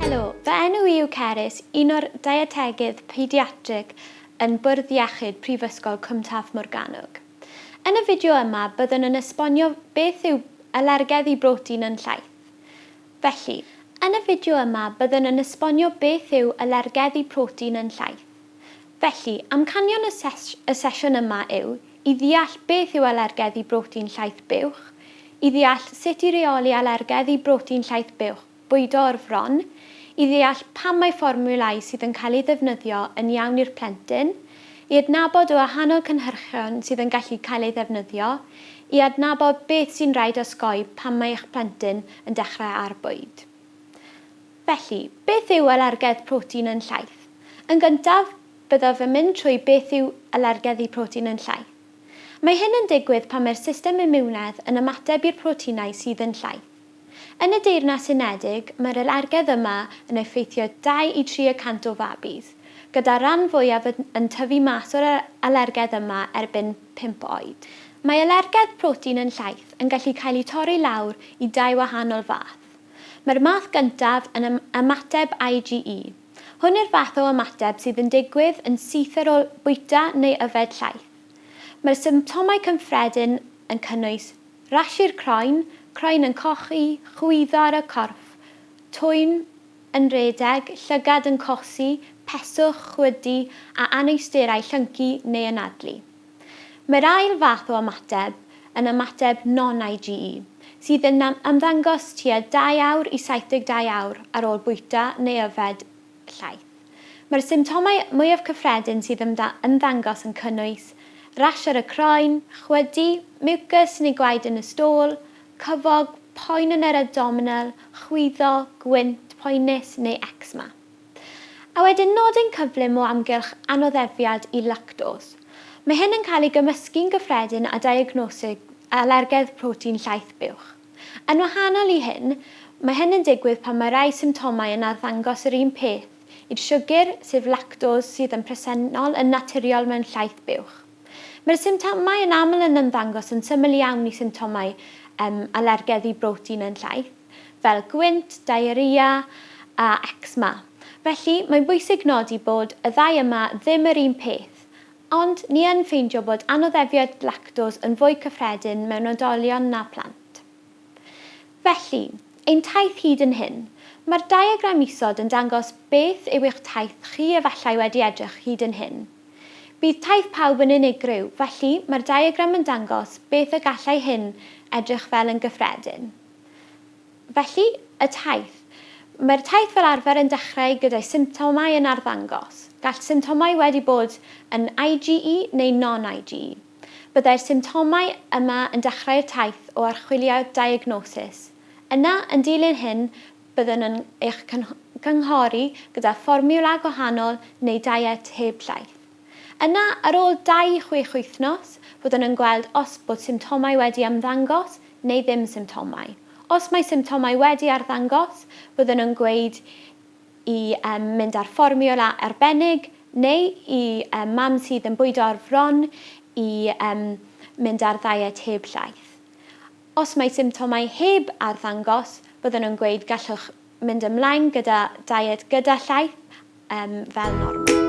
Helo, fy enw i yw Cerys, un o'r deietegydd pediatrig yn Bwrdd Iechyd Prifysgol Cwm Taf Morgannwg. Yn y fideo yma byddwn yn esbonio beth yw alergedd i brotein yn llaeth. Felly, yn y fideo yma byddwn yn esbonio beth yw alergedd i protein yn llaeth. Felly, amcanion y y sesiwn yma yw i ddeall beth yw alergedd i brotein llaeth buwch, i ddeall sut i reoli alergedd i brotein llaeth buwch bwydo o'r fron, i ddeall pam mae fformiwlau sydd yn cael eu ddefnyddio yn iawn i'r plentyn, i adnabod y wahanol cynhyrchion sydd yn gallu cael eu ddefnyddio, i adnabod beth sy'n rhaid osgoi pan mae eich plentyn yn dechrau ar bwyd. Felly, beth yw alergedd protein yn llaeth? Yn gyntaf, byddaf yn mynd trwy beth yw alergedd i protein yn llaeth. Mae hyn yn digwydd pan mae'r system imiwnedd yn ymateb i'r proteinau sydd yn llaeth. Yn y Deyrnas Unedig, mae'r alergedd yma yn effeithio dau i tri y cant o fabis, gyda'r rhan fwyaf yn tyfu mas o'r alergedd yma erbyn pump oed. Mae alergedd protein yn llaeth yn gallu cael eu torri lawr i dau wahanol fath. Mae'r math gyntaf yn ymateb IgE. Hwn yw'r fath o ymateb sydd yn digwydd yn syth ar ôl bwyta neu yfed llaeth. Mae'r symptomau cyffredin yn cynnwys rhashi'r croen, croen yn cochi, chwyddo ar y corff, twyn yn rhedeg, llygad yn cosi, peswch, chwydu a anawsterau llyncu neu anadlu. Mae'r ail fath o ymateb yn ymateb non-IgE, sydd yn ymddangos tua dau awr i 72 awr ar ôl bwyta neu yfed llaeth. Mae'r symptomau mwyaf cyffredin sydd yn ymddangos yn cynnwys rash ar y croen, chwydu, miwcys neu gwaed yn y stôl, cyfog, poen yn yr abdominal, chwyddo, gwynt, poenus neu ecsema. A wedyn nodyn cyflym o amgylch anoddefiad i lactos. Mae hyn yn cael ei gymysgu'n gyffredin â diagnosis alergedd protein llaeth buwch. Yn wahanol i hyn, mae hyn yn digwydd pan mae rhai symptomau yn arddangos yr un peth i'r siwgr, sef lactos, sydd yn presennol yn naturiol mewn llaeth buwch. Mae'r symptomau yn aml yn ymddangos yn syml iawn i symptomau alergedd i brotein yn llaeth. fel gwynt, diarrhea a ecsma. Felly, mae'n bwysig nodi bod y ddau yma ddim yr un peth. Ond, ni yn ffeindio bod anoddefiaid lactos yn fwy cyffredin mewn oedolion na phlant. Felly, ein taith hyd yn hyn. Mae'r diagram isod yn dangos beth yw eich taith chi efallai wedi edrych hyd yn hyn. Bydd taith pawb yn unigryw, felly, mae'r diagram yn dangos beth y gallai hyn edrych fel yn gyffredin. Felly, y taith. Mae'r taith fel arfer yn dechrau gyda'i symptomau yn arddangos. Gall symptomau wedi bod yn IgE neu non-IgE. Byddai'r symptomau yma yn dechrau'r taith o archwiliad diagnosis. Yna, yn dilyn hyn, byddwn yn eich cynghori gyda fformiwla gwahanol neu deiet heb llaeth. Yna, ar ôl dau i chwech wythnos, byddwn yn gweld os bod symptomau wedi ymddangos neu ddim symptomau. Os mae symptomau wedi arddangos, byddwn yn gweud i mynd ar fformiwla arbennig neu i mam sydd yn bwydo ar fron i mynd ar ddaiet heb llaeth. Os mae symptomau heb arddangos, byddwn yn gweud gallwch mynd ymlaen gyda diet gyda llaeth fel normal.